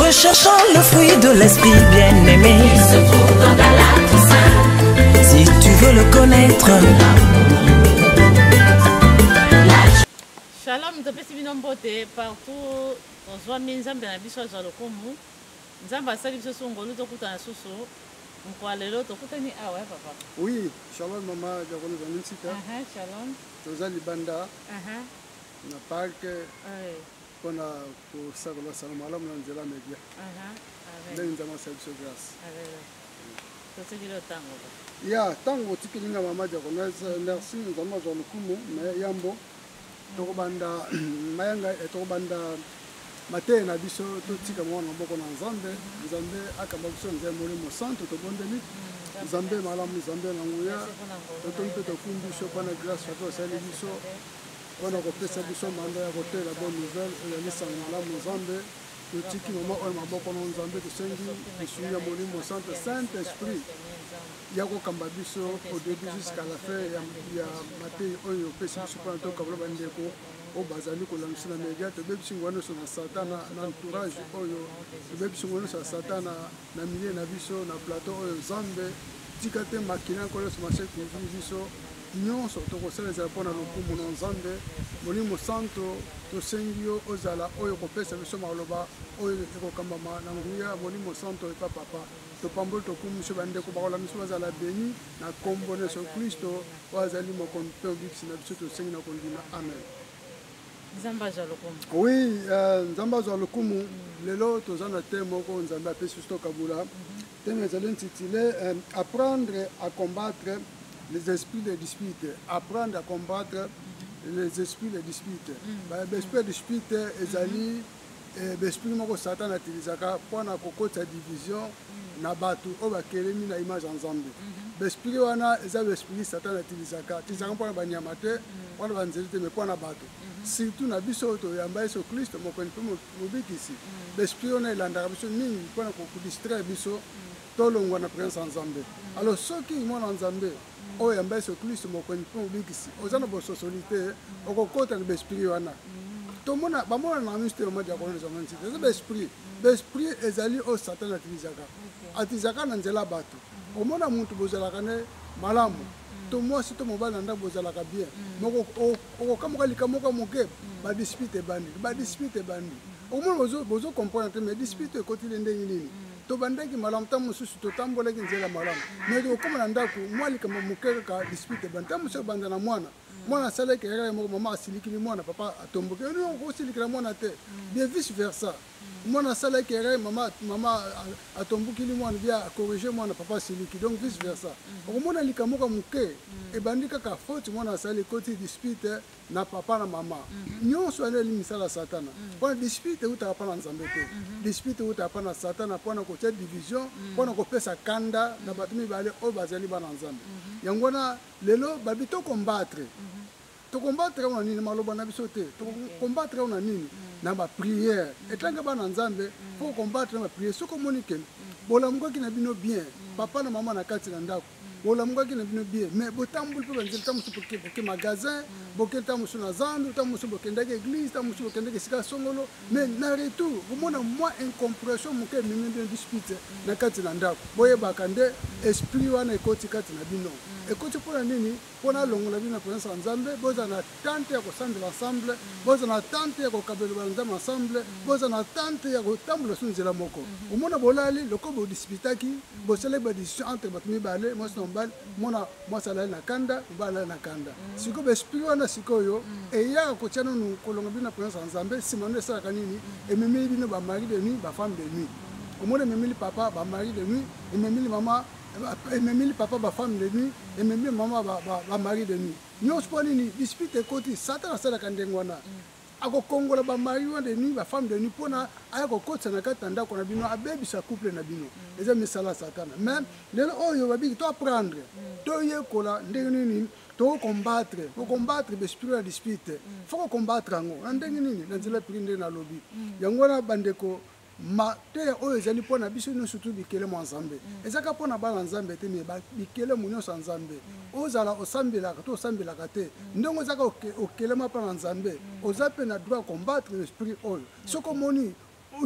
Recherchons le fruit de l'esprit bien-aimé. Il se trouve dans Galate Si tu veux le connaître. Shalom, topesi bino mbote partout tozwami nzambe na biso azwa lokumu nzambe asali biso so ngolu tokutana susu mokwa lelo tokutani awa ah ya papa oui shalom mama jakoni ezali nsika shalom toza libanda na parke mpona kosakola sango malamu na nzela media ndenge nzambe asali biso grâce ya ntango otikeli nga mama diaconese merci nzambe azwa lokumu me yambo tokobanda mayanga eh, tokobanda mateya na biso totika mwana maboko na nzambe nzambe akamba biso nzambe molimo santu tobondeli nzambe malamu nzambe na nguya totomi mpe tokumbi biso mpona grâce ato asali biso Mpo na kopesa biso manda ya kotela bonne nouvelle oyo ezali sango malamu Nzambe, totiki mama oyo na maboko na Nzambe, tosengi lisungi ya Molimo Santo, Saint Esprit, ya kokamba biso au début jusqu'à la fin ya, ya mateyi oyo opesi biso mpo na tokabola bandeko oyo bazali kolamisa na media tobebisi ngwa nyonso na satana na entourage oyo tobebisi ngwa nyonso ya satana na milie na biso na plateau oyo nzambe tika te makila nkolo yesu masiya ekundimi biso Nyonso tokosala ezala mpo na lokumu na Nzambe. Molimo Mosanto, tosengi yo ozala oyo kopesa biso maloba oyo ekokambama na nguya ya Molimo Mosanto epa Papa. Topamboli tokumu biso bandeko bakolanda biso bazala beni na nkombo na Yesu Klisto oyo azali mokonzi mpe mobikisi na biso, tosengi na kondima. Amen. Nzambe azwa lokumu. Oui, euh, Nzambe azwa lokumu. Lelo toza na te moko Nzambe apesi biso tokabula. Mm -hmm. Thème ezali intitulé euh, Apprendre à combattre les esprits de dispute. Apprendre à combattre les esprits de dispute. Mm. Ba esprit de dispute ezali mm-hmm. eh, esprit moko Satan atilisaka mpo na kokotisa division mm. na bato oyo bakelemi na image ya Nzambe. Mm-hmm. Besprit wana eza besprit Satan atilisaka atilisaka mpo na banyama te mm. mpo na banzeli te me mpo na bato mm-hmm. surtout na biso oyo toyamba Yesu Kristo mokonzi mpe Mobikisi, b'esprit wana elandaka biso mingi mpo na kodistraire biso tolongwa na presence ya Nzambe. Alors soki mwana Nzambe oyo yamba Yesu Klisto mokonzi mpe mobikisi, oza na bososoli te, okokota na b'esprit wana. Tomona bamona na miso te mama diakono na zama nsita eza b'esprit. B'esprit ezali oyo Satan atilisaka, atilisaka na nzela ya bato. Omona mutu bozalaka ne malamu to mwasi to mobali na ndako bozalaka bien moko okokamuka likambo moko moke ba dispute ebandi ba dispute ebandi omona bozo bozo comprendre te mais dispute ekotile ndenge nini tobandaki malamu ntango mosusu totambolaki nzela malamu mais tokokoma na ndako mwa likambo moke kaka dispute ebandi ntango mosusu ebanda na mwana mwana asalaki kaka ye moko mama asilikili mwana papa atomboki yo okosilikila mwana te bien vice versa mwana asalaki erreur mama mama atombukili mwana bia corrige mwana papa siliki donc vice versa mm. okomona likambo moko moke mm. ebandi kaka faute mwana asali ekoti dispute na papa na mama mm-hmm. nyonso yango eli misala satana mm. mpona dispute eutaka mpa na nzambe te mm-hmm. dispute eutaka mpa na satana mpo na kotya division mpo na kopesa kanda na bato mibale oyo bazali bana nzambe mm-hmm. yango wana lelo babi to combattre To combattre yango na nini? Maloba na biso te. To combattre yango na nini? Na ba prières. Etanke bana Nzambe, po combattre na ba prières. Soki omoni que bolamukaki na bino bien, papa na mama na kati na ndako, bolamukaki na bino bien, mais botamboli pe banzela ntango mosusu boke magasin, boke ntango mosusu na zandu, ntango mosusu bokendaki eglise, ntango mosusu bokendaki esika songolo, mais na retour bomona mwa incompression moke ememi bino dispute na kati na ndako, boyebaka nde esprit wana ekoti kati na bino. Ekoti mpo na nini? mpo nalongola bino na presence ya nzambe boza na tante ya kosambela ensemble boza na tante ya kokabela banzambe ensemble boza na tante ya kotambola so nzela moko mhm. omona bolali lokola bodisipitaki bosalaki badisisio entre bato mibale mwasi na mobali mona mwasi alali na kanda mobali alali na kanda mhm. sikoyo baesprit wana sikoyo mhm. eyaka kotya nanu kolonga bino na presence ya nzambe nsima nde esalaka nini ememeli bino bamari de nuit bafemme de nuit omona ememeli papa bamari de nuit ememeli mama ememeli papa ba femme de nuit ememeli mama ba, ba, ba mari de nuit nyonso mpo nini dispute ekoti satan asalaka ndenge wana akokongola bamari wana de nuit bafemme de nuit mpo na aya kokotisa na kati na ndako na bino abebisa couple na bino eza misala ya satana mais lelo oyo babiki to apprendre toyekola ndenge nini to combattre ko combattre besprit ya dispute fo ko combattre yango na ndenge nini na nzela pili ndenge nalobi yango wana bandeko mateya oyo ezali mpo na biso nyonso tu bikelemo ya nzambe mm. eza kaka mpo na bana nzambe te me bikelemo nyonso ya nzambe mm. ozala osambelaka to osambelaka te mm. ndenge oza kaka okelema mpo na nzambe oza mpe na droit ya combattre esprit oyo soki omoni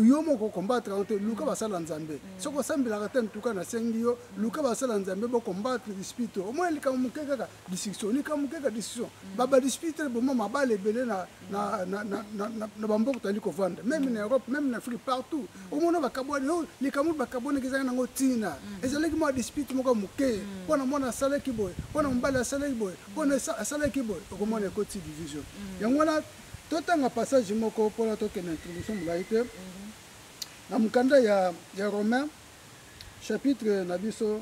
yo moko okombatre yango te luka basala nzambe soki osambelaka te ntuka nasengi yo luka basala nzambe bokombatre esprit oyo omoni likambo moke kaka discussion ni kamwe kaka discussion babadisputere boma mabala ebele na bamboka tozali kovanda meme na europe meme na afrique partout omona bakabwani oh, likambo bakabwanaki ezalaki nango ntina mm. ezalaki mwa dispute moko moke mm. mpo na mwana asalaki boye mpo na mobali asalaki boye mpo na asalaki boye okomona mm. ekoti division yango wana totanga passage moko mpona tokende introduction molai te mm-hmm. na mokanda ya romain chapitre na biso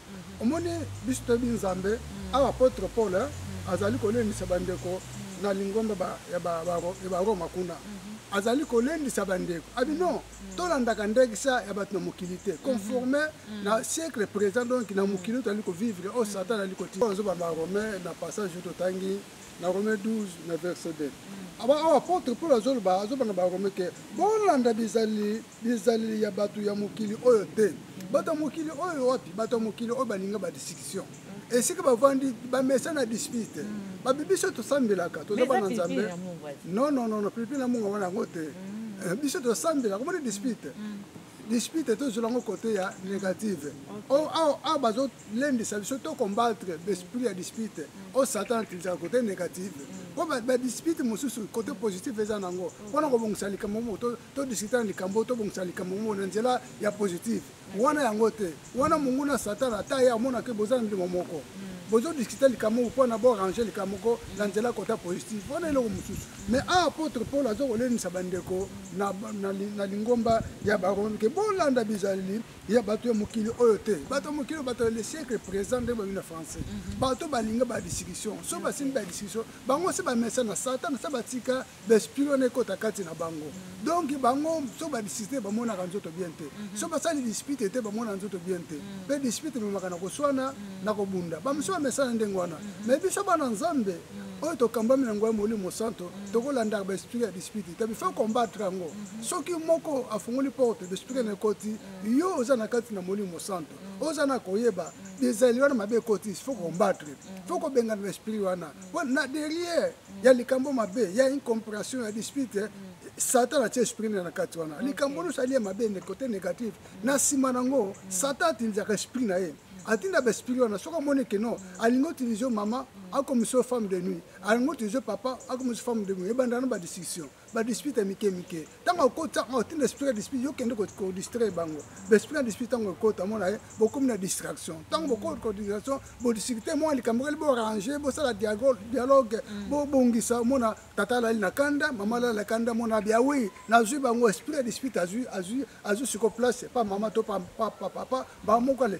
omoni biso toyebi nzambe mm. awa apotre paul eh, mm. azali kolendisa bandeko mm. na lingomba ya baroma kuna mm-hmm. azali kolendisa bandeko abi ah, non tolandaka ndekisa ya bato na mokili te mm-hmm. conforme na siècle présent donc na mokili oyo tozali kovivre oyo oh, satan ali kotia azoba na rome na passage oyo totangi na rome 12 na verset 2 awa apotre paul azoloba azoba na barome ke bolanda bizali bizaleli ya bato ya mokili oyo te bato ya mokili oyo wapi bato ya mokili oyo balinga badiscussion esika bavandi bamesa na dispute mm. babi biso tosambelaka toza bana nzambe nonnono pipi na munga wana yango te mm. eh, biso tosambelaka omoni dispute mm. dispute tozwela yango kote ya négative oh, awa ah, ah, bazolendisa biso to combattre besprit ya dispute o oh, satan atilizaka kote négative mpo badispute mosusu kote positif eza na yango mpona kobongisa likambo moko todiskuta na likambo tobongisa likambo yango na nzela ya positive wana yango te wana monguna satana ata ye amonaka boza na ndimo moko mm. bozodiskuta likambo moko mpona borange likambo moko na nzela kota positive wana eloko mosusu mais a apôtre paul aza kolendisa bandeko na lingomba ya barome ke bolanda bizaleli ya bato ya mokili oyo te bato ya mokili bato ya le siècle présent ndenge babi na français mm-hmm. bato balinga badiscussion so basimbi badiscussion bango se bamesana satana se batika besprit wana ekota kati na bango donc bango so badiscute bamonaka nzoto bien te mhm. so basali dispute te bamonaka nzoto bien te mpe mhm. dispute ememaka na koswana mhm. na kobunda bamosusu bamesana ndenge wana mai biso bana nzambe oyo tokambami na yango ya molimo santo tokolandaka baesprit ya dispute te bifa combattre yango soki moko afungoli porte besprit na ekoti yo oza na kati na molimo santo oza na koyeba ezali wana mabe ekoti fo combattre fo kobengana baesprit wana na derrière il y a likambo mabe il y a une compréhension ya dispute satan atie esprit na kati wana likambo nyonso alie mabe ne côté négatif na nsima nango satan atindisaka esprit na ye atinda baesprit wana soki amoni ke non alingi otilize mama akomisa yo femme de nuit alingi otilize papa akomisa femme de nuit ebanda na badiscussion ba dispute ya mike mike ntango akotisa oh, otinda esprit ya dispute yo kende kodistraire bango baesprit ya dispute ntango ekota omona ye eh, bokomi na distraction ntango mm. bokoti ko distraction bodiscute mwa likambo keli borange bosala dialogue mm. bobongisa omona tata alali na kanda mama alali na kanda mona bia wi nazwi bango esprit ya dispute azwi azwi azwi siko place pa mama to pa papa bango moko ale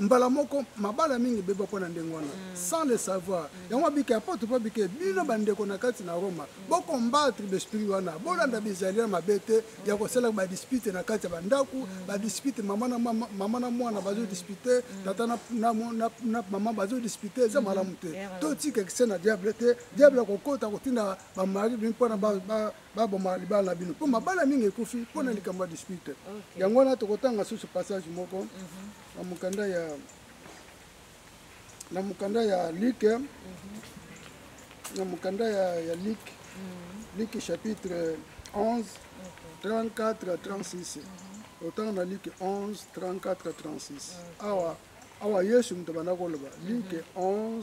mbala moko mabala mingi ebeba mpo na ndenge wana mm. sans le savoir mm. yango abike apotre mpo abike bino mm. bandeko na kati na roma bokombatre besprit wana bolanda bizali ya mabe te ya kosalaka badispute na kati ya bandako badispute mama na mwana bazodispute tata na mama bazodispute eza malamu te totika kise na diable te diable akokota kotinda bamari bino mpo na baboma libala na bino mpo mabala mingi ekufi mpo na likambo ya dispute yango wana tokotanga susu passage moko mhm. na mokanda ya na mokanda ya like mhm. na mokanda ya, ya like mhm. like chapitre 11 34 36 otanga na like 11 34 36 awa awa yesu moto abanda koloba like 11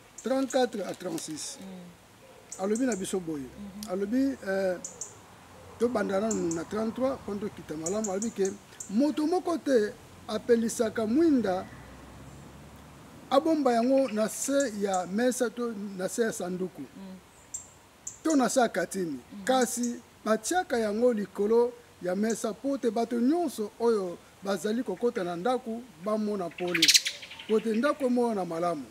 34 à 36 mm. alobi na biso boye mm -hmm. alobi euh, tobanda nanu na 33 mpo tokita malamu alobi ke moto moko te apelisaka mwinda abomba yango na se ya mesa to na se ya sanduku mm. to na se ya katini mm. kasi batiaka yango likolo ya mesa mpo te bato nyonso oyo bazali kokota na ndako bamona pole mpo te ndako emonana malamu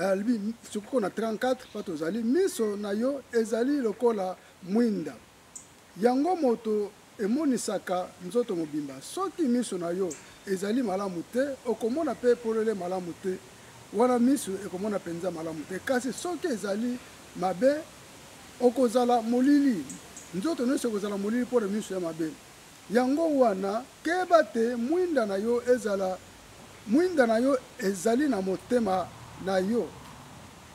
alibi sukoko na 34 mpo tozali miso na yo ezali lokola mwinda yango moto emonisaka nzoto mobimba soki miso na yo ezali malamu te okomona mpe polele malamu te wana miso ekomona mpenza malamu te kasi soki ezali mabe okozala molili nzoto nyonso ekozala molili mpo na miso ya mabe Yango wana, keba te mwinda na yo ezala mwinda na yo ezali na motema na yo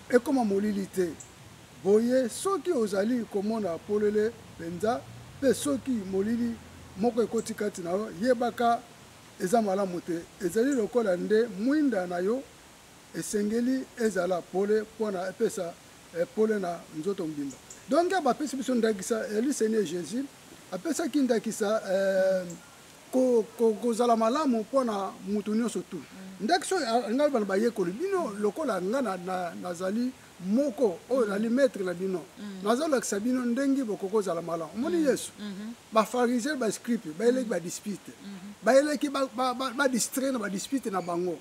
ekoma molili te. Boye, soki ozali komona polele mpenza mpe soki molili moko ekoti kati na yo, yebaka eza malamu te. Ezali lokola nde mwinda na yo esengeli ezala pole mpo na epesa pole na nzoto mobimba. Donc, bapesi biso ndakisa ya Lusenie Jesus. apesaki ndakisa eh, ko, ko, kozala malamu mpo na moto nyonso tu mm. ndakisa oyo alinga loba na bayekoli bino lokola nga nazali na, na moko oyo mm. nali maître na bino mm. nazolakisa bino ndenge bokoki kozala malamu omoni mm. yesu mm-hmm. bafarisien bascripe bayeleki mm-hmm. badispute mm-hmm. bayeleki badistrai na badispute na bango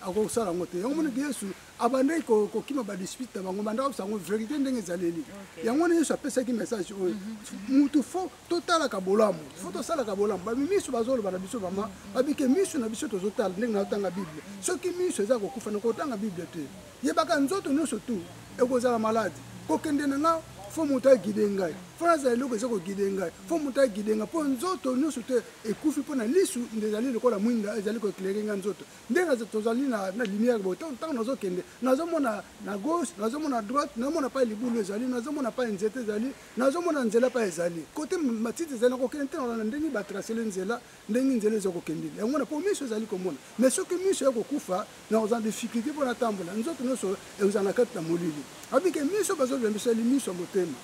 akoki kosala yango te yango monaki yesu abandaki kokima badispute na bango bandaki kosa yango verité ndenge ezaleli yango wana yesu apesaki message oyo mhm. mutu fo totalaka bolamu fo tosalaka bolamu bamisu bazoloba na biso mama babike misu na biso tozotala ndenge naotanga bible soki misu eza kokufa na kotanga bible te yebaka nzoto nyonso tu ekozala maladi kokende na nga fo moto agide ngai fo nazala eloko eza kogide ngai fo moto agide ngai mpo nzoto nyonso te ekufi mpo na lisu nde ezali lokola mwinda ezali koeklere ngai nzoto nde tozali na lumière boye ntango nazokende nazomona na gauche nazomona na droite nazomona mpai libulu ezali nazomona mpai nzete ezali nazomona nzela mpai ezali kote matiti ezali nakokende te na ndenge batrasele nzela ndenge nzela eza kokende yango na mpo miso ezali komona mais soki miso ya kokufa nakozala difficulté mpo natambola nzoto nyonso ekozala na kati na molili abike miso bazolobela biso eli miso ya motema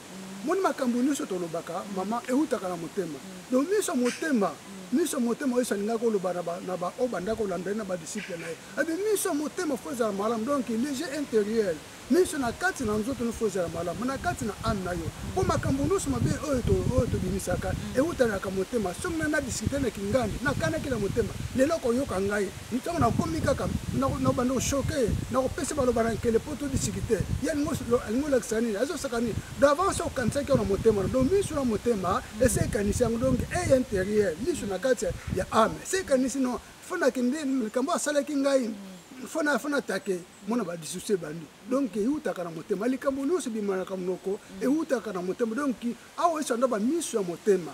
moni makambo nyonso tolobaka mama eutaka na motema donc miso ya motema miso ya motema yesu alingaki oloba na baoyo bandaki kolanda ye na badisiple na ye abi miso ya motema fo ezala malamu donc léger intérieur miso na kati na nzoto nofo ezala malamu na kati na ame na yo mpo makambo nyonso mabe oyo oyo tobimisaka eutanaka motema soki ngai na diskite na kingandi nakanaki na motema lelo koyoka ngai Ntango nakomi kaka nabanda koshoke nakopesa baloba na nkele mpo todisikite ye alingi olakisa nini azosaka nini davance okanisaki yango na motema donc miso na motema esi ekanisi yango donc eye interieur miso na kati ya ame esi ekanisi no fo nakende likambo asalaki ngai fo natake mona badisuse bandi donc eutaka na motema likambo nyonso ebimanaka monoko eutaka na motema donc awa esanda bamiso ya motema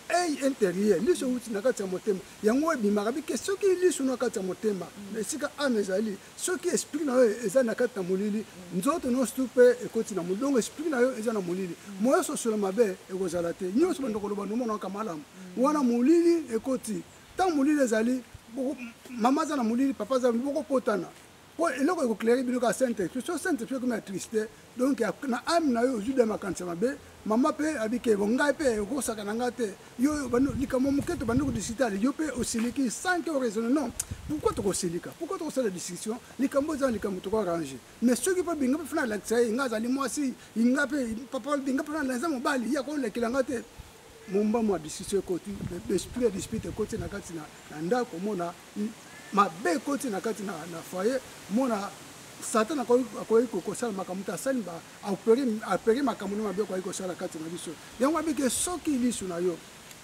ei interieur liso euti na kati ya motema yango ebimaka bike soki liso na kati ya motema na esika ame ezali soki esprit na yo eza na kati na molili nzoto nyonso tu mpe ekoti na molili donc esprit na yo eza na molili moya sosola mabe ekozala te nyonso bando koloba nomonaka malamu wana molili ekoti ntango molili ezali mama aza na molili papa aza bokopotana mpo eloko ekoclere bino kaka saint esprit so saint esprit ekomi atriste donc na ame na yo ozwi da makanisa mabe mama mpe abike bo ngai mpe okosaka na ngai te yo likambo moke to bandi kodisitale yo mpe osiliki sans ke oraisonne non pourquoi tokosilika pourquoi tokosala discussion likambo eza na likambo toko arrange mais soki mpe binga mpe fana alakisa ye ngai azali mwasi inga mpe papa binga mpe fana eza mobali ye akolekela ngai te momba mwa discussion ekoti esprit ya dispute ekoti na kati na ndako omona mabe ekoti na kati na foyer mona satan akoki kosala makambo te asali apere makambo na mabe akoki kosala kati na biso yango abike soki lisu na yo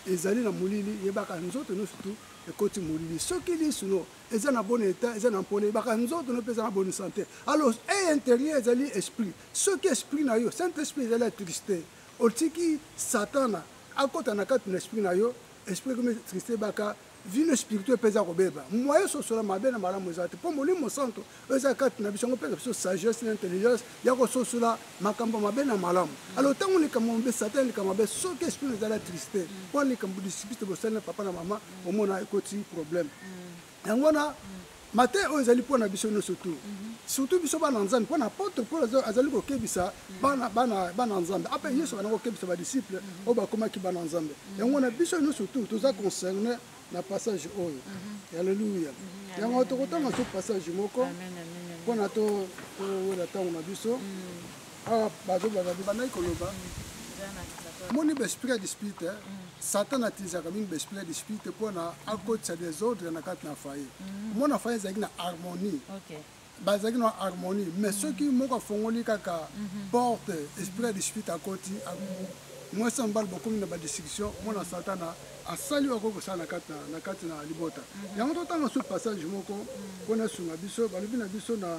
ezali na molili yebaka nzoto nyonso tu ekoti molili soki lisu no eza na bon eta eza na mpona yebaka nzoto no mpe eza na boni sante alors e intérieur ezali esprit soki esprit na yo saint esprit ezali atriste otiki satana akota na kati na esprit na yo esprit ekomi triste baka vie no spirituel mpe eza kobeba moye sosola mabe na malamu eza te mpo molimo santo oyo eza kati na biso yango mpeza biso sagesse na intelligence ya kososola makambo mabe na malamu alors ntango likambo mabe satan likambo mabe soki esprit ezala triste mpo likambo disipite bosali na papa na mama omona ekoti problème yango wana Mateya oyo ezali mpo na biso nyonso tu surtout biso bana nzambe mpo na apotre paul azali kokebisa bana, bana, bana nzambe ape ah, yesu bana kokebisa badisciple oyo bakomaki bana nzambe yango na biso nyonso tu toza concerne na passage oyo alleluya yango tokotanga so passage moko mpo na towela ntango na biso awa bazobaka bibandaki koloba moni baesprit ya dispute eh? mm. satan atilisaka mingi baesprit ya dispute mpona akotisa desordre na kati na faye mm. omona faye ezalaki na harmonie bazalaki na harmonie mais mm. soki moko afongoli kaka mm-hmm. porte esprit ya dispute akoti mwasi ya mobali bokomi na badiscussion omona satana asali oyo akoki kosala na kati na libota mm-hmm. yango totanga so passage moko mpona esunga biso balobi na biso na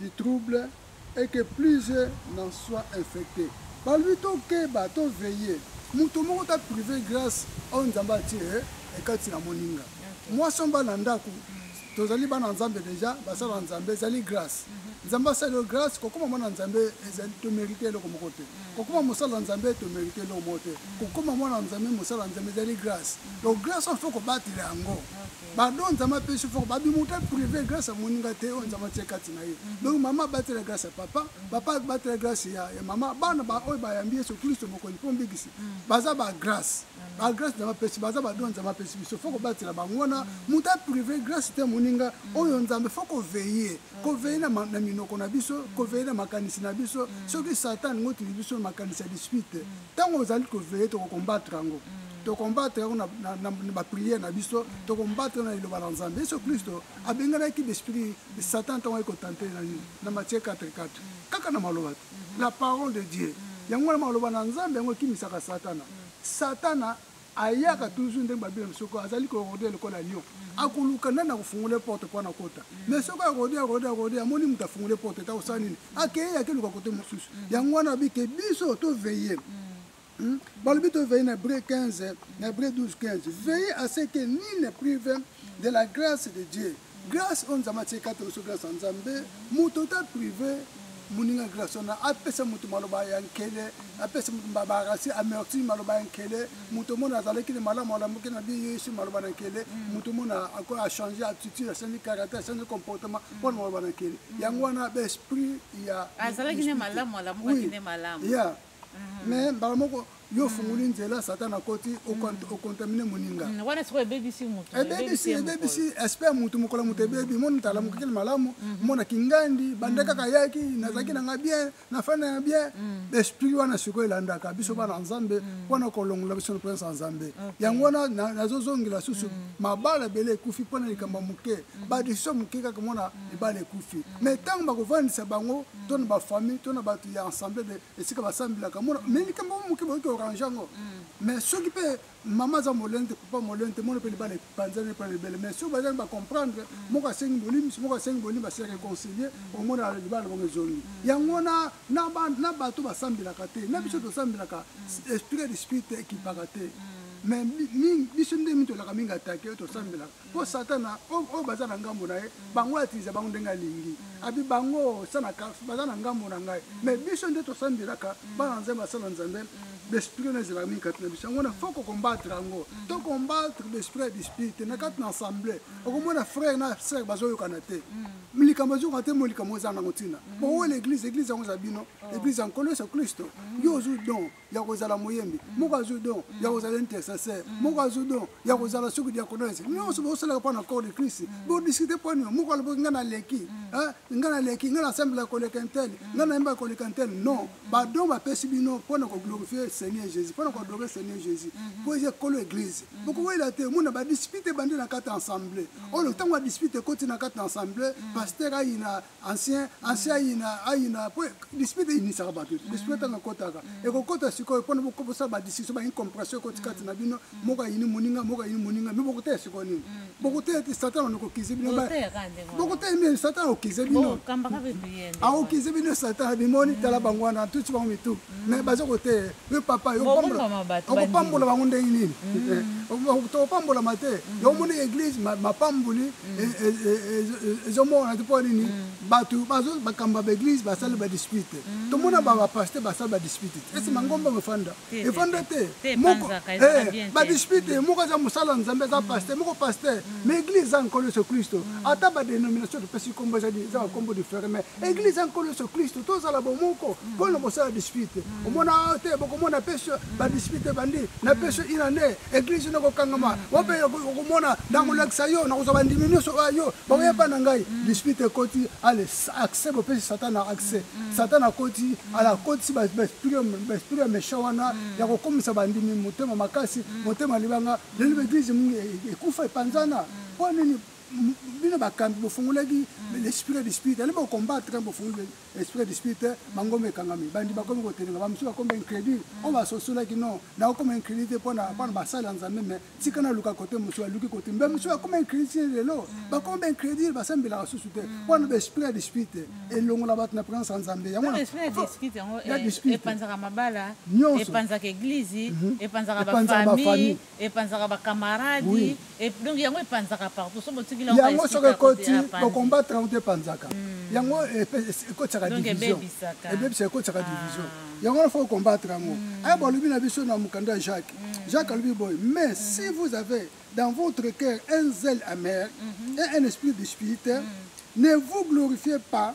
du trouble et que plusieurs n'en soient infectes. Balobi tokeba, to veiller. Moto moko ta prive grâce oyo Nzambe atie ekati na moninga. Mwasi omba na ndako, tozali bana Nzambe deja, basala na Nzambe ezali grâce. Nzambe asali yo grâce, kokoma mwana Nzambe ezali to merite eloko moko te. Kokoma mosala na Nzambe to merite eloko moko te. Kokoma mwana Nzambe, mosala na Nzambe ezali grâce. Donc grâce oyo faut kobatela yango. pardon nzambe apesi fort babimuta privé grâce ya moninga te oyo nzambe atie kati na ye mhm. donc mama abatela grâce ya papa mhm. papa abatela grâce ya, ya mama bana baoyo bayambi yesu kristo mokonzi mpo mbikisi mhm. baza bagrâce bagrâce nzambe apesi baza badon nzambe apesi biso fo kobatela bango wana moto aprive grâce te moninga oyo nzambe fo koveye koveye na minoko na biso koveye na makanisi na biso soki satan ngotili biso makanisi ya dispute ntango ozali koveye tokokombatre yango tokombatre yango na bapriere na biso tokombatre na liloba na nzambe yesu kristo abenganaki besprit satan ntango ayekotante na nini na matie 44 kaka na maloba te la parole de dieu yango wana maloba na nzambe yango ekimisaka satana satana ayaka toujours ndenge babi na biso ko azali ko rode lokola lion akoluka nani akofungola porte mpo na kota mais soki arode arode arode amoni moto afungole porte ta kosala nini akei akeluka kote mosusu yango wana abi ke biso toveille Hmm? balobi to veille na bre 15 na bre 12 15 veille à ce que ni le privé de la grâce de dieu grâce oyo nzambe atie kati biso grâce ya nzambe moto ota prive moninga grâce wana apesa moto maloba ya nkele apesa moto babarasi amerti maloba ya nkele moto mona azalaki na malamu alamuki na bie yesu maloba na nkele moto mona achange attitude achange caractère achange comportement mpona maloba na nkele yango wana baesprit ya azalaki ne malamu alamukaki ne malamu mais mhm. mbala moko yo ofungoli mhm. nzela satana akoti mhm. okontamine moninga ebebisi espere motu mokola moto ebebi moni tala mokokeli malamu mona kingandi banda kaka yaki nazalaki nanga bien nafanda ya bien esprit wana sikoyo elandaka biso bana nzambe mpona kolongola biso na présence ya nzambe yango wana nazozongela susu mabala ebele ekufi mpona likambo ya moke badesizio moke kaka mona libala ekufi mai ntango bakofandisa bango to na bafamille to na bato ya ensemble de esika basambelaka mona mai likambo yango moke bayoki orange yango mai mm. soki mpe mama aza molende te papa molende te mona mpe libala epanzani mpe libele mai soki bazali bacomprendre mm. moko asengi bolimisi moko asengi bolimbi asi réconcilie mm. omona libala bongo ezongi yango wana na bato basambelaka te na biso tosambelaka esprit ya dispute ekipaka te mais biso nde mitolaka mingi atake tosambelaka mpo satana oyo baza na ngambo na ye bango atiliza bango ndenge alingi abi bango sana cars baza na ngambo na ngai mais biso nde tosambelaka bana nzambe basala nzambe besprit oyo ezalaka mingi kati na biso yango na fo kokombatre yango to kombatre besprit ya dispute na kati na assemble okomona frère na sœur bazoyokana te likambo azokana te mo likambo eza nango ntina bowo l'église église yango eza bino église ya nkolo yesu kristo yo ozwi don ya kozala moyembi mm. moko azwi don ya mm. kozala intercesseur mm. moko azwi don ya kozala soki diakonese nyonso bosalaka mpo na corps de christ bodiskute mpo nio moko aloboki ngai naleki ngai naleki ngai nasambela koleka ntele ngai nayembaka koleka ntele non badon bapesi bino mpo na koglorifie seigneur jésus mpo na koadore seigneur jésus mpo mm-hmm. eza ekolo église mm-hmm. bokowela te omona badispute ebandi na kati ya ensemble oyo ntango badispute ekoti na kati ya ensemble mm. paster ayina ancien ancien ayina ayina po dispute eyinisaka bato te dispute ntango ekotaka ekokota sikoyo mpona bosala badiscussion baincompréhension ekoti kati na bino moko ayini moninga moko ayini moninga mi bokoteya sikoyo nini bokoteya te satan wana okokize bino bokoteya nini satan aokize bino aokize bino satan bimoni tala bango wana tuti bango mitu mais baza koteya Yo papa, yo pambola. Okopambola bango ndenge nini? Mm. Tokopambolama te. Mm. Yo omoni eglise mapamboli mm. e, e, e, ezomona te mpo nini? Bato bakamba ba eglise basali ba dispute. Tomona ba pasteur basali ba dispute. Esi mangomba mefanda. Efanda te. Moko eh, ba dispute moko aza mosala Nzambe aza pasteur, moko pasteur. Mais eglise eza nkolo Yesu Kristo. Ata ba dénomination topesi kombo ezali eza ba kombo different mais eglise ya nkolo yesu kristu tozala bomoko mpo na mosala ya dispute mm. omona awa te bokomona pesi mm. badispute ebandi na mm. pesi ina nde eglise ino ekokangama wape okomona nakolakisa yo nakozwa bandimi nyonso oyo yo bakoyeba na ngai dispute ekoti ale accès bopesi satana accès satana akoti ala akotisi baesprit ya méchant wana ya kokomisa bandimi motema makasi motema libanga lelo baeglise e, e, ekufa epanzana mpo nini bino bakambi bofungolaki mm. l'esprit du spirit ale bocombattre ntango bofungoli esprit du spirit eh, mangomba ekangami bandi bakomi kotelenga bamosusu bakoma incrédule mm. oyo basosolaki non nakokoma incrédule te mpo na basali ya nzambe me tika naluka kote mosusu aluki kote mbe mosusu bakoma incrédule ti lelo mm. bakoma baincrédule basambelaka susu te mpo na baesprit du spirit eh, elongola bato na présence ya nzambe yango eh, epanzaka mabala epanzaka eglize mhm. epanzaka bafamille epanzaka ba camarade oui. e, donc yango epanzaka partout so botiki lango yango soki ekoti bokombatre yango te epanzaka mm. yango ekotisaka division ebebisaka ekotisaka division ah. yango nafo okombatre yango mm. aya balobi na biso na mokanda ya jacques mm. jacques alobi boye mais mm. si vous avez dans votre cœur un zèle amer mm -hmm. et un esprit de spiritaire mm. ne vous glorifiez pas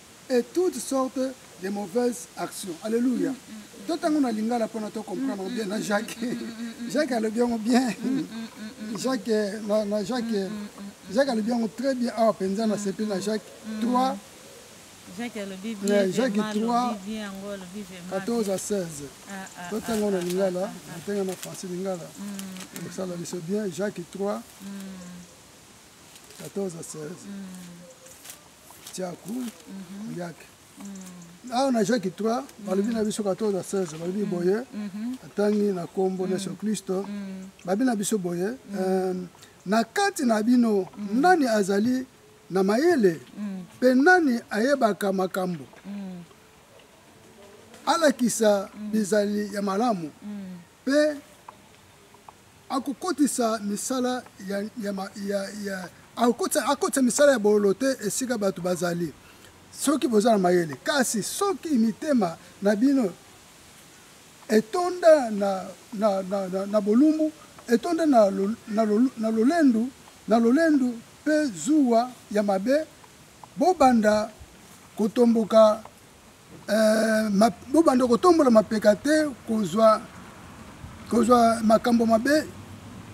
et toutes sortes de mauvaises actions alléluia to tango na lingala pona to comprendre bien na Jacques Jacques alobi yango bien Jacques na, na Jacques Jacques alobi yango très bien awa penza na sepeli na Jacques 3 Jacques alobi bien eh, Jacques 3 14 à 16 to tango na lingala tenga na français lingala ekosala biso bien Jacques 3 14 à 16 tiaku mhm. yake mhm. awa na jacques 3 balobi na biso 14 na 16 balobi boye atangi na nkombo na yesu kristo babi na biso boye euh, na kati na bino nani azali na mayele mpe nani ayebaka makambo alakisa bizali ya malamu Mpe akokotisa misala ya, ya, ya, ya, akokotisa, akotisa misala ya bololo te esika bato bazali, soki boza na mayele. Kasi soki mitema na bino etonda na, na, na, na, na bolumbu, etonda na, lo, na, lo, na lolendu, na lolendu mpe zuwa ya mabe, bobanda kotomboka Euh, ma, bobanda kotombola mapeka te kozwa kozwa makambo mabe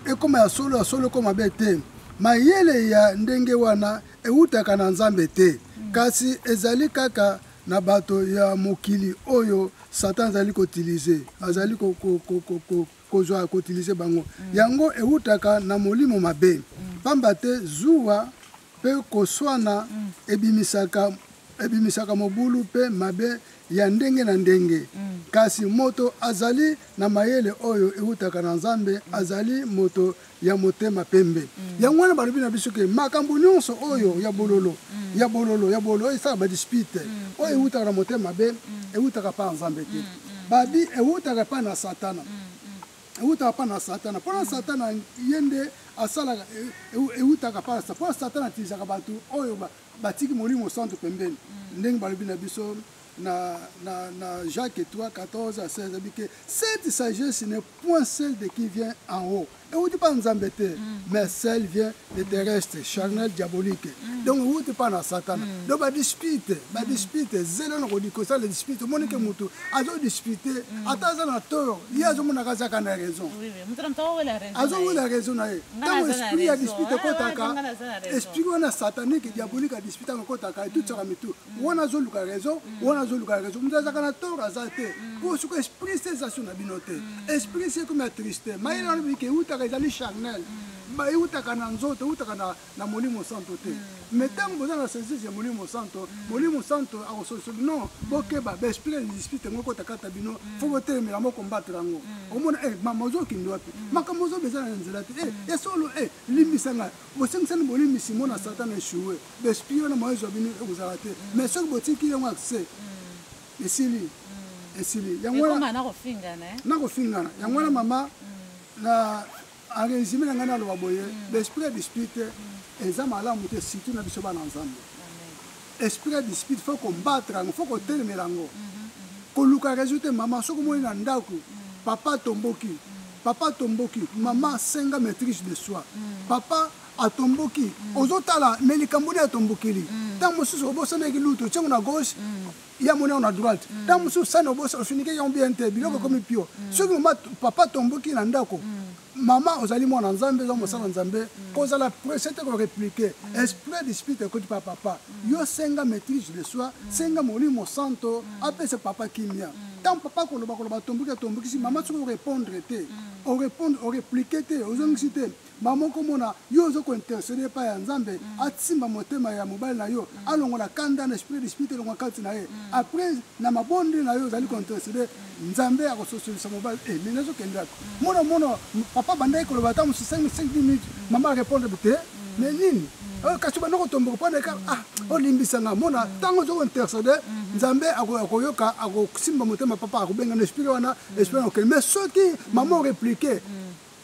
ekoma ya solo ya solo ekoma mabe te mayele ya ndenge wana ewutaka na nzambe te kasi ezali kaka na bato ya mokili oyo satan azali kotilize azali kozwa kotilize bango yango ewutaka na molimo mabe mpamba te zuwa Mpe koswana ebimisaka, ebimisaka mobulu mpe mabe ya ndenge na ndenge. Kasi moto azali na mayele oyo eutaka na Nzambe azali moto ya motema pembe. Yango wana balobi na biso ke makambo nyonso oyo ya bololo, ya bololo, ya bololo, oyo esala ba dispute, oyo eutaka na motema mabe, eutaka epai ya Nzambe te. Ba abus eutaka epai na Satana. ewutaka mpa na satana mpo na mm. satana ye nde asalaka ewutaka e, e mpa na satana mpo na satana atilisaka bato oyo batiki molimo santu pembeni mm. ndenge balobi na biso na, na, na Jacques 3, 14 à 16, dit que cette sagesse n'est point celle de qui vient en haut. Et on dit pas Nzambete, mm. mais celle vient de terrestre charnel diabolique mm. donc ewuti mpa na satana mm. donc badispute badispute mm. zelo na kodikosala dispute omoni ke motu azodispute ata aza na tort ye azomonaka azaka na raison azowela raison na ye ntango esprit ya dispute ekotaka ah, esprit wana satanique diabolique adispute yango ekotaka etutisaka mitu wana azoluka raison wana azoluka raison motu azaka na tort aza te mpo soki esprit se eza so na bino te esprit se ekomi ya triste mayele wana bikewutaka ezali charnel ba eutaka na nzoto eutaka na, na molimo santo te mm. mais ntango boza na saisise ya molimo santo mm. molimo santo akosolisa bino mm. bokeba baesprit ya dispute yango ekotakata bino mm. fo botelemela moko mbatela yango mm. omona eh, mama ozokindi wapi mm. makambo ozoba eza na nzela te eh, mm. ya solo eh, limbisa ngai bosengisani bolimbisi mona satana echoue baesprit wana moyo ezwa bino ekozala te mm. mais soki botiki yango accès mm. esili mm. esili yango wana nakofingana eh? yango wana mama mm. na en résumé na ngai naloba boye l'esprit ya dispute eza malamu te surtout na biso bana nzambe esprit ya dispute fo kombatre yango fo kotelemela yango koluka réseau te mama soki omoni na ndako papa atomboki papa atomboki mama senga maîtrise de soi papa atomboki ozotala me likambo nde atombokeli ntango mosusu obosanaki lutu otiango na gauche ya moni yango na droite ntango mm. mosusu sani obosa osunike yango bien te biloko mm. ekomi pio mm. soki mama papa tomboki na ndako mama ozali mwana nzambe eza mosala nzambe kozala presse te koreplike esprit du spirit ekoti pa papa yo senga maîtrise de soi senga molimo santo apesa papa kimia ntango papa koloba koloba tomboki atombokisi mama soki orepondre te orepondre oreplike te ozongisi te Maman okomona yo ozo ko interceder epai ya Nzambe mm. atimba motema ya mobali na yo mm. alongola kanda na esprit dispute elongwa kati na ye mm. après na mabondeli na yo ozali ko interceder mm. Nzambe akososolisa mobali eh mais nazo kende ako mm. mona mona papa bandaki koloba ata mosusu 5 5 minutes mm. mama répondre te mm. mais nini mm. oh, kasi banda kotomboka mpo na eka mm. ah olimbisa nga mona ntango ozo ko interceder mm-hmm. nzambe akoyoka akosimba motema papa akobenga na esprit wana mm. esprit na okende mais soki mama oreplike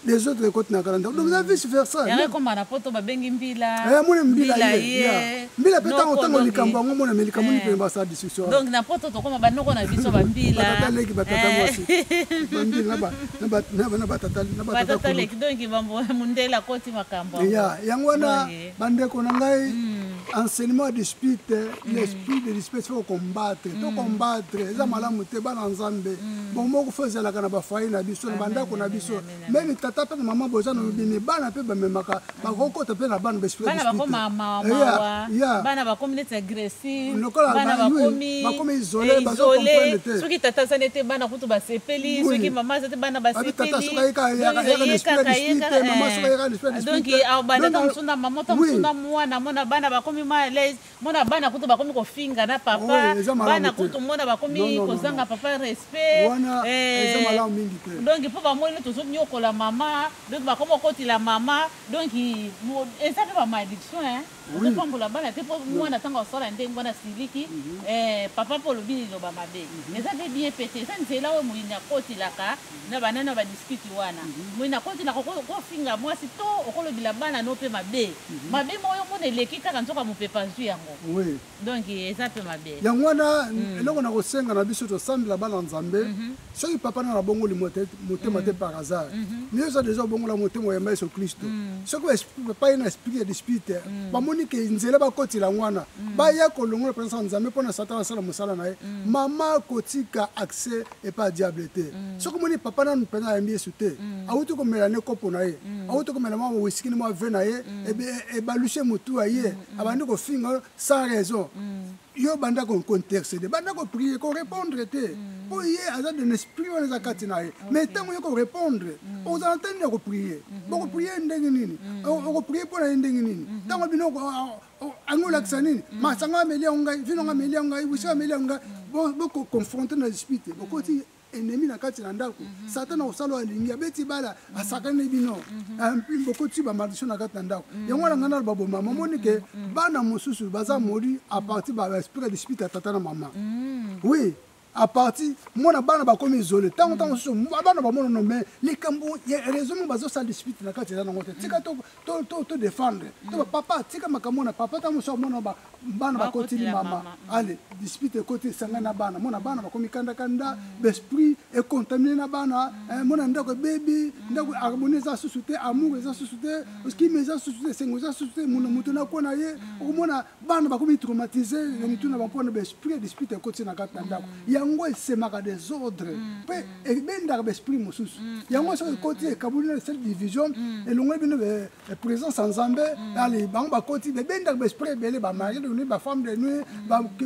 les autres ekoti na kala ndako donc eza vice versa yango ekoma na poto babengi mbila eh, amoni mbila ye mbila mpe ntango ntango likambo yango mona me likambo nipene eh. basala discussion donc na poto tokoma banoko na biso bambilatata leki batata eh. mwasi bambila na batata leki donc mundele akoti makambo ya yango wana bandeko na ngai hmm. enseignement ya dispute hmm. l'esprit de dispute fo combattre to hmm. combattre eza malamu te bana nzambe bomoko fo ezalaka na bafoye na biso na bandako na biso meme tata mpe na mama boza na lobimi bana mpe bamemaka bakokota mpe na bana baesprit ya lokola bana bakomi bakomi isolé bazo comprendre te soki tata aza nete bana kutu basepeli soki mama aza te bana basepeli tata soki ayeka ayeka ayeka na esprit na esprit te mama soki ayeka na esprit na esprit te donc au banda ta musuna mama ta musuna mwana mona bana bakomi mal à l'aise mona bana kutu bakomi kofinga na papa bana kutu mona bakomi kozanga papa respect wana eza malamu mingi te donc mpo bamoni tozo nyokola mama donc bakomi kokotila mama donc eza mpe ba malediction hein Oui. Pambola bana te po mwana tango asala ndenge wana siliki mhm. eh, papa po olobi liloba mabe mhm. eza pe bien pe te eza nzela oyo moyini akotilaka mhm. na banana badiskiti wana moyini akotilaka kofinga mwasi to okolobela bana no mpe mabe mabe moko yo mona eleki kaka nzoka mopepe azwi yango donc eza mpe mabe yango wana mm. eloko na kosenga na biso tosambela bana nzambe mm -hmm. soki papa na nabongoli motema mm. te par hasard mm -hmm. miyo eza deja obongola motema oyamba yesu klisto mm. soki epai na esprit ya dispute mm. bamoni ke nzela bakotila yango wana mm. baya kolongola mpenza ya nzambe mpo na satana asala mosala na ye mm. mama akotika accès epai ya diable te mm. soki omoni papa nanu mpenza ayambi yesu te mm. awuti komela ne kopo na ye mm. awuti komela mwa wiskini mwa ve na ye mm. ebalushe motu ya ye mm. mm. abandi kofinga yo sans raison mm. yo banda kointercede banda koprie korépondre te mm. mpo ye aza de l'esprit wana eza kati na ye mais ntango ye korépondre oza na ntani ya koprie mm-hmm. bokoprie ndenge nini okoprie mpo na ye ndenge nini mm-hmm. ntango bino yango olakisa nini masanga ameli yango ngai vino yango ameli yango ngai wisi ameli yango ngai bokoconfronte na esprit te bokoti enemi na kati na ndako mhm. satana kosala alingi abeti bala mhm. asakani bino mhm. ah, bokoti bamaldition na kati na ndako yango wana ngai naloba bo mama omoni ke bana mosusu baza moli a partir baesprit de spite ya tata na mama oui à partir mwana bana bakomi isole ntango ntango mosusu bana bamonono me likambo raison mo bazosala dispute na kati eza nango te tika to to to to défendre mm. to papa tika makambo na papa ta mosa mona ba bana bakoti ni mama mm. ale dispute ekoti sanga na bana mona bana bakomi kanda kanda mm. l'esprit est contaminé na bana mm. eh, mona ndako baby mm. ndako harmonie za susute amour za susute mm. kimi za susute sengo za susute mona mutu na kona ye mm. okomona bana bakomi traumatise na mitu na bango mpona baesprit ya dispute ekoti na kati na ndako mm. yango esemaka desordre mm. mpe mm. ebendaka baesprit mosusu yango soki ekoti ekaboli na sel division elongoli bino présence ya nzambe ale bango bakoti bebendaka baesprit ebele bamari de nuit bafemme de nuit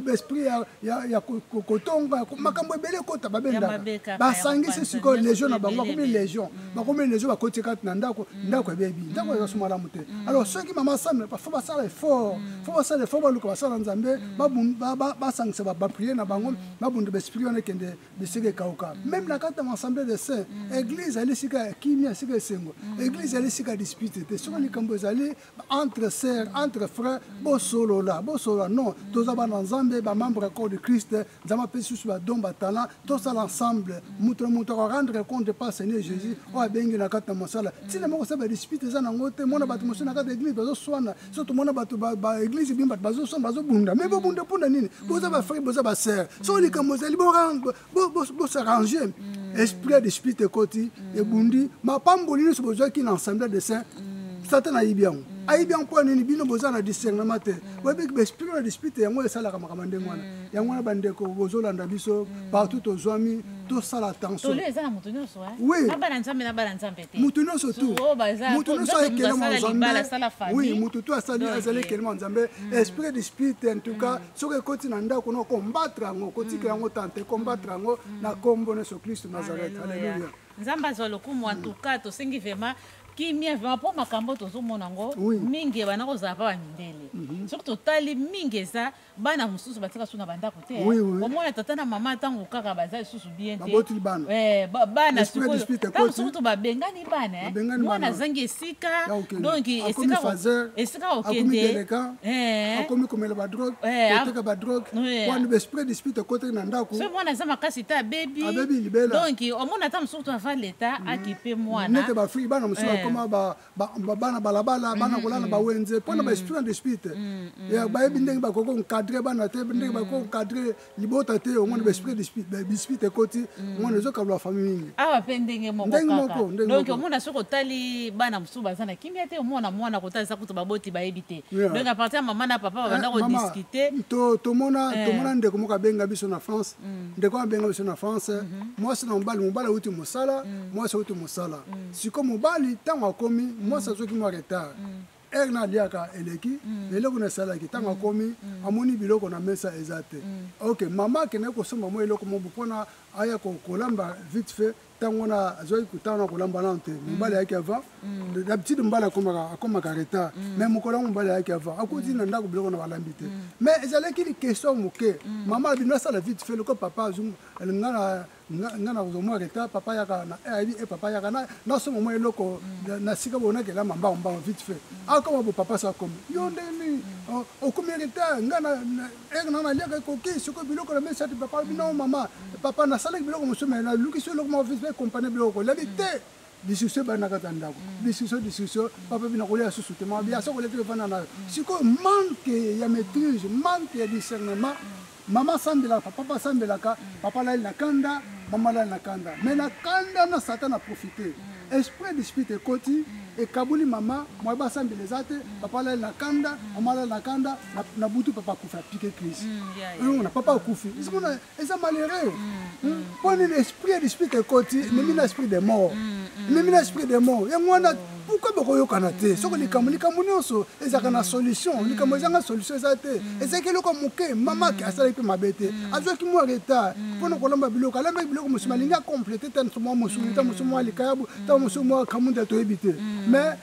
baesprit ya kotonga makambo ebele ekota babendaka basangisi sikoyo légion na bango bakomi légion bakomeli lezo bakoti kati na ndako mm. ndako ebebi ndako mm. ezasu malamu te mm. alors soki mama same fo basala effort fo basala effort baluka basala nzambe basangisa bapriere na bango babunda baesprit wana ekende bisika ekauka meme na kati ya assemblée de saint église ezali esika ya kimia esika esengo église ezali esika ya dispute te soki likambo ezali entre sœur entre frère bosolola bosolola non toza bana nzambe bamembre ya corps du christ nzambe apesi biso badon batana tosala ensemble moto na moto akorendre compte pa seigneur jésus oyo abengi na kati na mosala ntina moko sa badispute eza nango te mona bato mosusu na kati ya église bazoswana so tomona bato baeglise bino bato bazoswana bazobunda mai bobunda mpona nini boza bafrere boza basere so likambo ezali bosarrange bo, bo mm. esprit ya dispute ekoti mm. ebundi mapamboli nyonso bozwaki na ensemble de saint mm. satana ayibi yango mm. ayibi yango mpo nini bino boza na discernement te mm. boyebi baesprit na dispute yango esalaka makambo ndenge wana mm. yango wana bandeko bozolanda biso mm. partout tozwami mm. tosala tensionmotu nyonso tumotu nyonso ayekelema nzambe motu to azali ekelema nzambe esprit dispute en tout cas mm. soki ekoti na ndako na kombatre yango kotika mm. yango tante kombatre yango mm. na kombo na yesu kristu nazareth aleluya nzambe azwa lokumu antuka tosengi vraimen kimia vraimen mpo makambo tozomona yango mingi ebanda kozala mpa bamindele mhm. soki totali mingi eza bana mosusu batika so na bandako te omona tata na mama ntango kaka baza lisusu bien te babotuli bana eh, ba- bana Esprit ya sikoyo- dispute ntango ekoti. sikoyo to babengani bana eh. Babengani mwana bana. azangi esika Ya kokende. donc Akomi esika ko- fazer, esika akomi kokende deleka, Eh. akomi komela badrogue Eh, a- koteka badrogue Eh. wana besprit dispute ekotaki na ndako soki mwana aza makasi te abebi Abebi libela. donc omona ata mosusu to ava leta akipe mwana nete bafriki bana mosusu Eh. bakoma ba- bana balabala mhm, bana kolala mhm. bawenze mpo na mhm. baesprit and esprit te bayebi ndenge bakoki konkadre bana te ndenge bakoki konkadre libota te omoni baesprit bispit ekoti omoni ezokabla famille mingi awa mpe ndenge mokodonk omona soki otali bana mosusu baza na kimia te omona mwana kotalisa kutu baboti bayebi te donc apartir ya mama na papa babanda eh, kodiskute tomona eh. tomona ndeko moko abenga biso na france mm. ndeko abenga biso na france mwasi na mobali mobali auti mosala mm. mwasi auti mosala mm. siko mobali ntango akomi mm. mwasi azwaki mwa retard mm. ere na aliaka eleki mm. eloko na esalaki ntango mm. akomi mm. amoni biloko na mesa eza te mm. ok mama akendaki kosomba mwa eloko mobo mpona aya kolamba vite fait ntango wana azwaki kotanga na kolamba nano te mm. mobali ayaki avant mm. d'habitude mobali akomaka retard mm. mais mokolo yango mobali ayaki avant akoti na ndako biloko na balambi te mais ezalaki question moke mama abino asala vite fait loko papa azunga nga nga nakozwa mwa retard papa yaka eh, ayebi e eh, papa yaka nasomba mwa eloko mm. na sika boyo nakelama mbango mbango vite fait mm. akoma ah, bo papa sa akomi yo nde nini mm. oh, okomi retard nga ere eh, na naliaka ekoki sikoyo biloko na mesati papa bino mama papa nasalaki biloko mosusu me nalukisi eloko moko vite fait compagnie biloko kolali te discussion ebanda kati ya ndako discussion discussion papa bina kolia susu te mabi asa kolia te efanda nayo sikoyo manque ya maîtrise manque ya discernement mama asambelaka papa asambelaka papa alali na kanda mama alali na kanda mais na kanda na satan na profite esprit dispute ekoti ekaboli mama mwa basambela eza te papa alali na kanda mama alali na kanda na butu papa akufi apike crise mm, omona papa akufi eza malheureux mpo nini esprit ya dispute ekoti ememi na esprit de mort ememi na esprit de mort yango wana pourkoi bokoyokana te soki likambo likambo nyonso ezalaka na solution likambo ezanga solution eza te ezalaki eloko moke mamaki asalaki mpe mabe te azwaki mwa retard mpo na kolamba biloko alambaki biloko mosusu malingi akomplete ta mwa mosuni ta mosusu mwa likayabu ta mosusu mwa kamunda toyebi te mais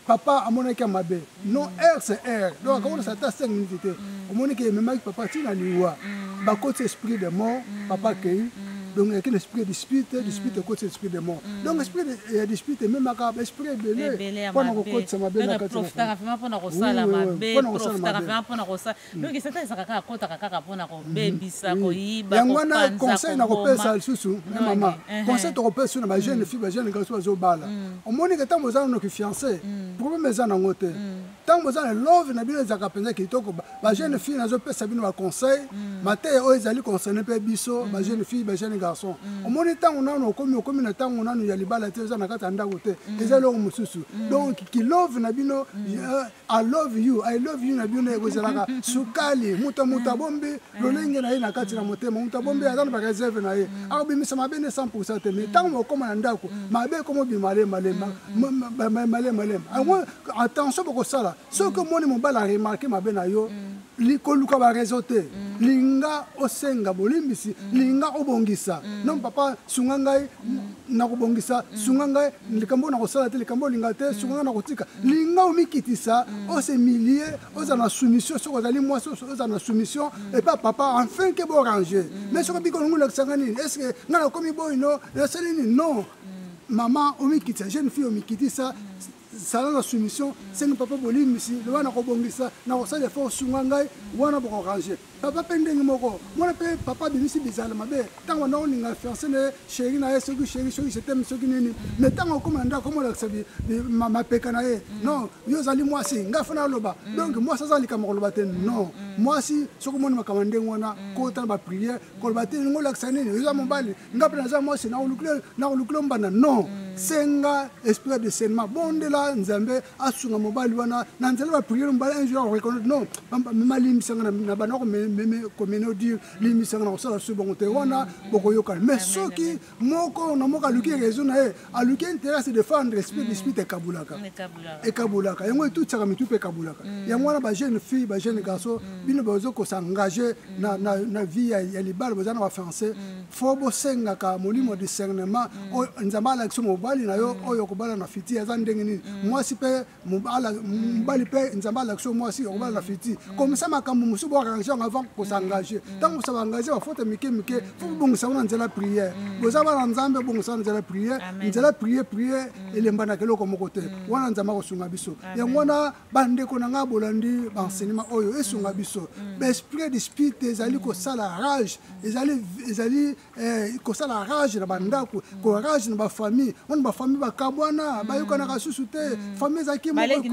papa amonaki ya mabe non heure c'est heure donc akakolisa ata 5 minutes te mm. omoni ke ememaki papa ntina liwa mm. bakoti esprit de mort mm. papa akei donc eyaki na esprit ya dispute dispute ekotisa esprit de mort donc esprit ya dispute ememaka baesprit ebele mpona kokotisa mabe na kati na famille. Profitaka vraiment mpona kosala mabe, profitaka vraiment mpona kosala donc satan ezaka kaka akotaka kaka mpona kobebisa koyiba yango wana conseil nakopesa lisusu na mama conseil tokopesa su na bajeune fille bajeune garso bazobala omonike ntango boza nano kifiance problème eza nango te ntango boza na love na bino ezalaka mpenza kitoko bajeune fille nazopesa bino baconseil mateya oyo ezali concerne mpe biso bajeune fille bajeune garçon omoni ntango nano okomi okomi na ntango nano ya libala te eza na kati ya ndako te eza eloko mosusu donc kilove na bino I love you, I love you na bino ekozalaka sukali moto moto abombi mm. lolenge na ye na kati na motema moto abombi aza na bareserve na ye mm. akobimisa mabe nde 100 te me mm. ntango mokoma na ndako mabe ekomobima lemalemba malemba yango attention bokosala soki omoni mobali aremarke mabe na yo koluka barezo te mm. linga osenga bolimbisi mm. linga obongisa mm. non papa sunga ngai nakobongisa sunga ngai likambo oyo nakosala te likambo olinga te sunga ngai nakotika linga omikitisa ose milie oza na soumission soki ozali mwasi oza na soumission epa papa enfin ke borange mais soki biko longo olakisanga nini est ce que ngai nakomi boyino nasali nini non mama omikitisa jeune fille omikitisa zala na soumission sengi papa bolimbisi loba nakobongisa nakosala efo osunga ngai wana bokorange papa mpe ndenge moko mwana mpe papa abimisi bizala mabe ntango banda koninga fiance na ye sheri na ye soki sheri soki jeteme soki nini me ntango okoma na ndako komolakisa mapeka na ye non yo ozali mwasi ngai fo naloba donc mwasi aza likambo koloba te non mwasi soki omoni makambo ndenge wana kota na bapriere koloba te lingo olakisa nini oza mobali nga mpe naza mwasi nakolukile mbanda non mm. senga esprit ya discernement bondela nzambe asunga mobali wana na nzela bapriere mobali un jour akoreconnaitre non mema limbisanga na banda komenodire limbisanga na kosala su bango te wana mm. bokoyokana mais soki moko na moko aluki raison na ye aluki intérêt à se défendre esprit dispute mm. ekabolaka ekabolaka yango etutisaka mitu mpe ekabolaka mm. yango wana bajeune fille bajeune garçon mm. bino baoza kosengage na vie ya libala boza na bafrançais fo bosengaka molimo discernement oyo nzambe alakisi mobali na yo oyo okobala na fiti aza ndenge nini mwasi mpe mobala mobali mpe nzambe alakisi mwasi okobala na fiti komisa makambo mosusu boarrange yango avant kosengager ntango kosaba engage bafote mike mike fo bobongisa yango na nzela priere boza bana nzambe obongisa yango na nzela priere nzela priere priere elembanaka eloko moko te wana nzambe akosunga biso yango wana bandeko na ngai bolandi baenseignement oyo esunga biso baesprit de spirit ezali kosala rage ezali Eh, kosala rage na bandako mm. korage na bafamille wana bafamille bakabwana mm. bayokanaka susu te mm. famille ezalaki baleki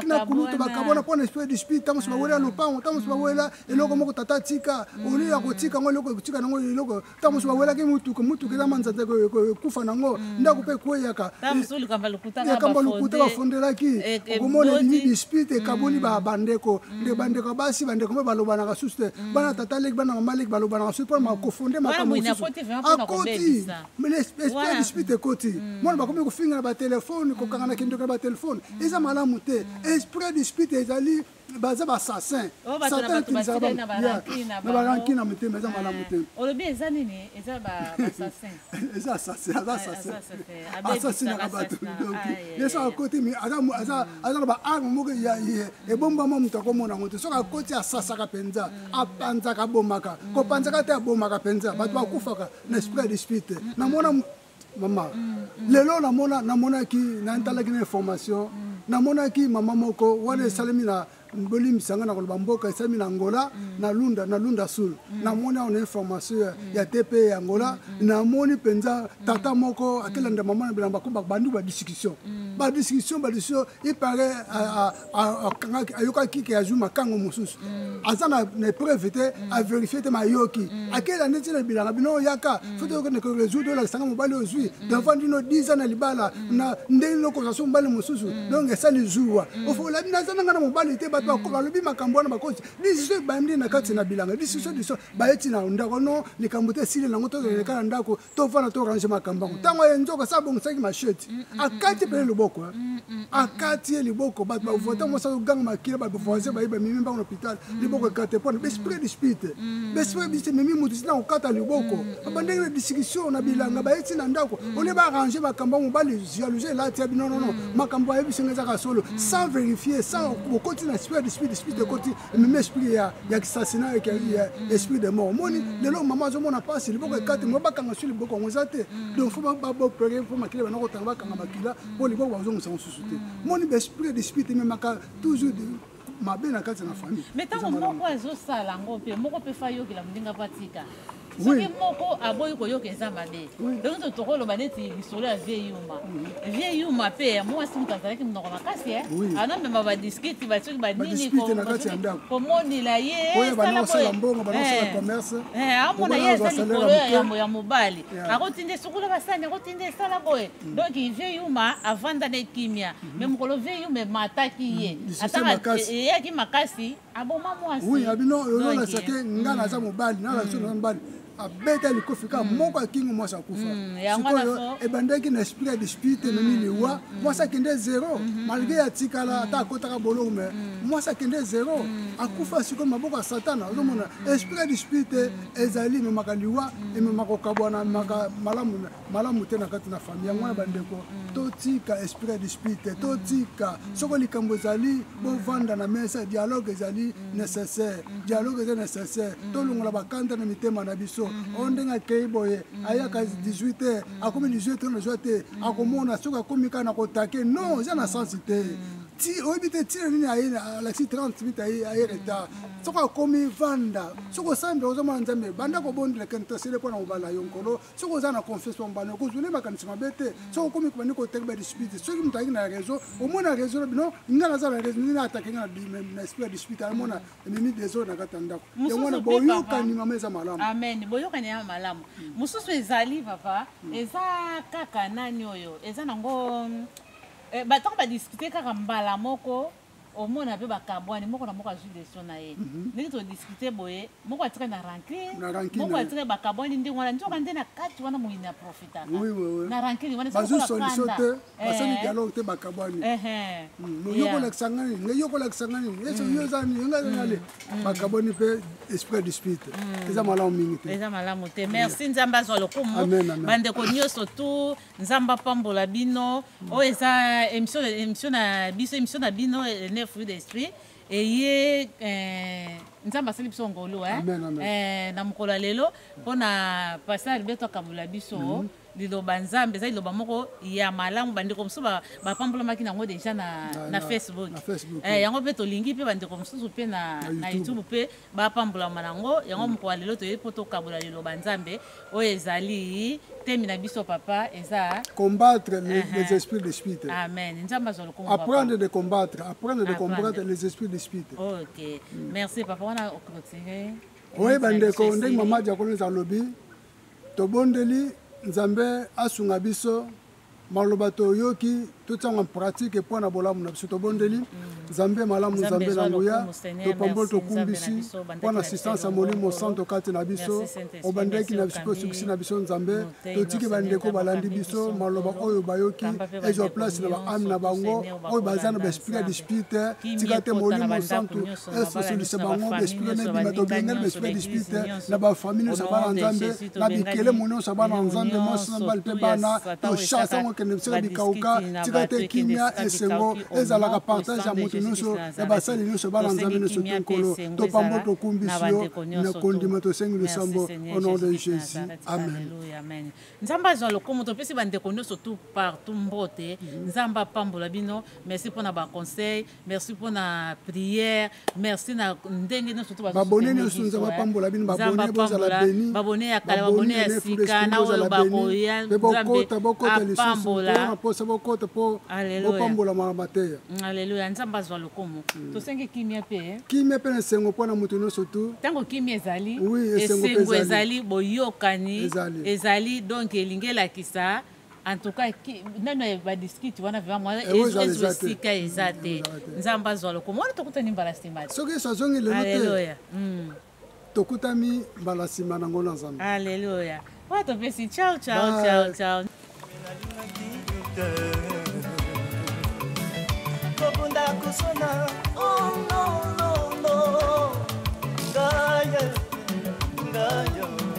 na kulutu bakabwana mpo na esprit dispute ntango mosu bawela lopango ntango mosu bawela eloko moko tata atika olio ya kotika yango eloko ekotika nango eloko ntango mosu bawelaki motuka motuka eza manzanza ekufa nango ndako mpe ekweyaka likambo lokuta bafondelaki eh, eh, okomona elimi dispute ekaboli bandeko nde bandeko basi bandeko mpe balobanaka susu te mm. bana tata leki bana mama leki balobanaka susu mpona makofonde makambo mosusu akoti esprit du spirit ekoti mm. mwana bakomi kofinga na batelefone kokanga na kindoki na batelefone mm. eza malamu te esprit du spirit ezali baza basassin oh, satanatilisaka na baranki na motema eza malamu te eh, olobi eza nini eza basassin eza assassin aza assassin assassinaka bato donki ye soki akoti aza na baarme moko ebombama moto akomona yango te soki akoti asasaka mpenza apanzaka abomaka kopanzaka te abomaka mpenza bato bakufaka na esprit ya dispute te namona mama lelo namonaki natalaki na information namonaki mama moko wana esalemi na bolimbisa nga na koloba mboka esami na angola na lunda na lunda sul mm. namoni awa na information ya, mm. ya tp ya angola mm, namoni mpenza tata moko atelanda mama na bilamba ko bandi badiscussion badiscussion badiscussion ipare akangaki ayokaki ke azwi makango mosusu aza na epreuve te averifie te mayoki akela neti na bilanga bino oyaka fo toyokende koresoudre olakisanga mobali ozwi devant dino 10 ans na libala na ndenge nini okozwa so mobali mosusu mm. donc esali zuwa mm. ofolabi naza nanga na mobali te bato mm. balobi makambo wana bakosi disisio ebandi na kati na bilanga disisio diso bayeti na ndako no likambo te esili nango tozaleleka na ndako tofana torange makambo yango ntango ye nzoka sa abongisaki mashete akati mpene loboko akati ye liboko bato bavota mosa toganga makila bavoisin baye bamimi mbango na hôpital liboko ekate mpona besprit dispute besprit dispute memi moto tina kokata liboko babandaki na discussion na bilanga baye ti na ndako olie baarrange makambo ya mobali jalousie elati ya bino nono makambo ayebisi nga ezaka solo sans vérifier sans bokoti na esprit dispute dispute ekoti memi esprit ya ya kisasina ya esprit de mort omoni lelo mama azomona mpasi liboko ekate mo bakanga so liboko yango eza te donc fo babopere mpo makila bana kotanga bakanga makila mpo liboko bazongisa mosusu te moni besprit dispute ememaka toujours mabe na kati na famille mais ntango moko ezosala yango mpe moko mpe fa yokela moninga mpo atika soki moko aboyi koyoka eza mabe donc to tokoloba neti lisolo ya vie yuma mhm. vie yuma mpe ya mwasi moto azalaki monoko makasi eh? anamema badiskiti basoki banini komonela ye amona ye eza likolo ya yambo ya mobali akotinda esukola basani akotinda esala boye mhm. donc vie yuma avanda na ekimia me mokolo vie yume mataki ye eyaki makasi aboma mwasi abino olololesake nga naza mobali nalakisi naza mobali abeta likofi kaka mm. moko akingi mwasi akufa mm, sikoyo ebandaki na esprit ya dispute mm, ememi liwa mwasi akende zero mm-hmm. malgre atikala ata akotaka boloko me mwasi akende zero akufa sikoyo maboko ya satana ozomona esprit ya dispute ezali ememaka liwa ememaka kokabwana ememaka malamu malamu te na kati na famille yango wana bandeko mm. totika esprit ya dispute te mm. totika mm. soko likambo ezali bovanda na mesa dialogue ezali nécessaire dialogue eza nécessaire tolongola bakanda na mitema na biso mm-hmm. oyo ndenge akei boye ayaka 18 te akomi 18 te nazwa te akomona soki akomi kaka na kotake non eza na sensi te ti oyebi te ntina nini aye alakisi 30 minute aye retard soki akomi vanda soki osambe ozomona nzambe banda kobondela kene tosele mpo na kobala yo nkolo soki oza na confiance bambana okozwa nde makanisi mabe te soki okomi kobandi koteki badispute soki moto ayaki na réseau omona réseau na bino nga naza na réseau nde atake nga na esprit ya dispute amona ememi desordre na kati ya ndako yango wana boyokani mama eza malamu amen boyokani ya malamu hmm. mosusu ezali papa hmm. eza kaka nani oyo eza nango eh, batoko badiscute kaka mbala moko omona pe bakabwani moko na moko azwi leso na ye mhm. ndenge todiskute boye moko atikali na rancune moko atikali bakabwani ndenge wana nzoka nde na kati wana moyini aprofitaka na rancune wanabazosolisotebasali eh. dialogue te bakabwani yokolakisa nga nini ngai yokolakisa nga nini eso yo eza nini ngai ezanale mm. mm. bakabwani mpe esprit dispute mm. eza malamu mingi te eza malamu te merci nzambe azwa lokumu bandeko nyonso tout nzambe apambola bino oyo oh, eza émission émission na biso émission na bino ne fruit d'esprit eye eh, nzambe asali biso ngolu eh. eh, na mokolo ya lelo mpo na pasteur alberto akabola biso mhm. liloba nzambe eza liloba moko ya malamu bandeko mosusu bapambolamaki nango deja na, na, na facebook, na facebook eh, yango mpe tolingi mpe bandeko mosusu mpe na, na youtube mpe bapambolama na yango yango mokolo ya lelo toyebi mpo tokabola liloba nzambe oyo ezali temi na biso papa eza combattre les, uh -huh. les esprits de spirite amen nzambe azwa lokumu apprendre de combattre apprendre de combattre les esprits de spirite ok mm. merci papa wana okotinue oye bandeko ndenge mama diakono ezalobi tobondeli nzambe asunga biso maloba toyoki totiango en pratique mpo na bolamu na biso tobondeli mm. nzambe malamu nzambe na nguya topamboli tokumbisi mpo na assistance ya molimo santo kati na biso obandaki na biso mpe osukisi na biso nzambe totiki bandeko balandi biso maloba oyo bayoki ezwa place na baame na bango oyo baza na baesprit ya dispute te tika te molimo santu esosolisa bango baesprit na ebima tobengeli baesprit ya dispute te na bafamili nyonso bana nzambe na bikele monionso ya bana ya nzambe mwasi na mibali mpe bana toshasa yango ekende bisika ya bikauka tika te kimia esengo ezalaka partage ya moto nyonso ya basali nyonso ya bana nzambe nyonso to nkolo topambo tokumbisi yo na kondima tosengi losambo au nom de jésus amen nzambe azwa lokumu topesi bandeko nyonso tout partout mbote nzambe apambola bino merci mpo na baconseil merci mpo na prière merci na ndenge nyonso to babone nyonso nzambe apambola bino babone bozala beni babone ya kala babone ya sika na oyo bakoya mpe bokota bokota lisusu na mposa bokota mpo bopambolama na mateya mm, aleluya nzambe azwa lokomo mm. tosengi kimia mpe eh. kimia mpe na esengo mpo na moto nyonso tu ntango kimia ezali esengo ezali boyokani ezali donk elingi elakisa en tout cas nano ya badiskite wana vraimentezwa esika eza te nzambe azwa lokomo wana tokutani mbala nsima te soki yesu azongi lelo te hmm. tokutami mbala nsima na ngolo ya nzambe aleluya oyo topesi ciao ciao ciao ciao kobunda kosona oh, no, no, no. Gaia, Gaia.